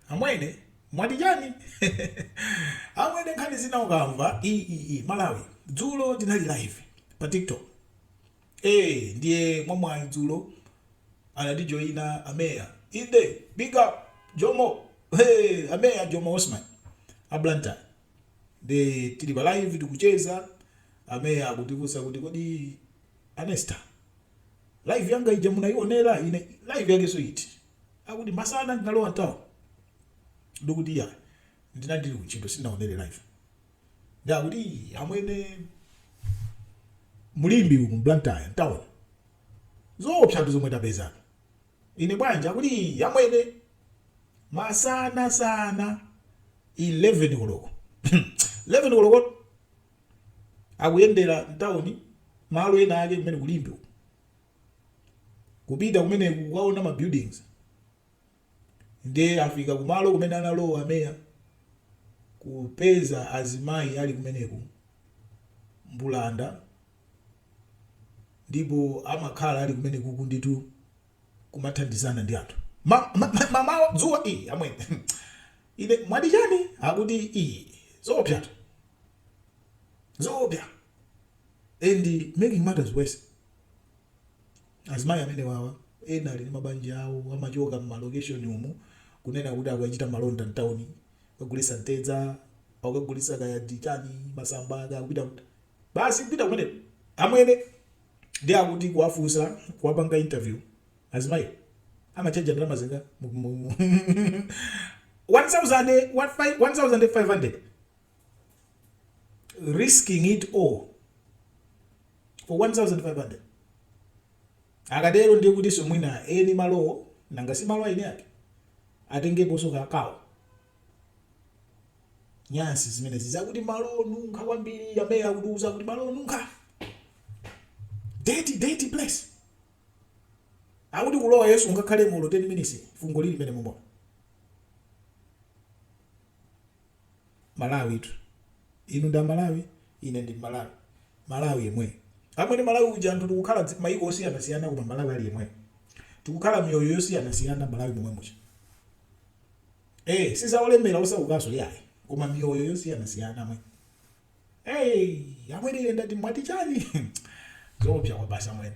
Amwene mwati chani? Amwene nkhani zina ukamva iiih Malawi. Dzulo tinali live pa tiktok ee ndiye mwamwayi dzulo anatijoina a mayor inde big up Jomo hee a mayor Jomo Osman a Blantyre nde tili pa live tikucheza a mayor akutifunsa kuti kodi a Nesta live yanga ija munaionera? Ine, Live yakenso iti? akuti masana ndinalowa mtown ndikuti iya ndinali kuntchito sindinaonere live nde akuti "Ii, amwene mulimbi umu mblantyre mtown zoopsatu zomwe tapeza ine bwanji akuti "Ii, amwene masana sana 11 koloko 11 koloko akuyendera mtawuni malo ena ake kumene kulimbi uku kupita kumeneku kukaona ma buildings nde afika kumalo kumene analowa a mayor kupeza azimayi ali kumeneku mbulanda ndipo amakhala ali kumenekuku ndithu kumathandizana ndi anthu ma, ma, ma, mamawa dzuwa ii amwene ine mwati chani akuti ii zoopsatu zoopsa and making matters worse Azimayi amenewawa ena ali ndi mabanja awo amachoka mma location umu kunena kuti akukachita malonda mtown kukagulisa mtedza akukagulisa kaya ndi chani masamba kaya kupita kuti basi kupita kumeneko amwene ndiye akuti kuwafunsa kuwapanga interview azimayiwa amatchaja ndalama zingati 1000 1500 risking it all for 1500? Akatero ndiye kutinso mwina eni malowo, nanga si malo aeni ake, atengeponso kakewo. Nyansi zimenezi zakuti malo onunkha kwambiri, a mayor akutiuza kuti malo onunkha dirty dirty place akuti kulowa yesu ungakhalemo olo 10 minutes fungo lili mene mumo Malawitu. Inu ndi a Malawi, ine ndi Mmalawi. Malawi yemweyo. Amwene Malawi uja anthu tikukhala dzi, maiko osiyanasiyana koma Malawi ali yemweyo. Tikukhala miyoyo yosiyanasiyana Mmalawi momwe muja. Ee, si za olemera osaukanso iyayi, koma miyoyo yosiyanasiyana amwene. Ee, amwene ine ndati mwati chani? Zoopsa kwabasi amwene.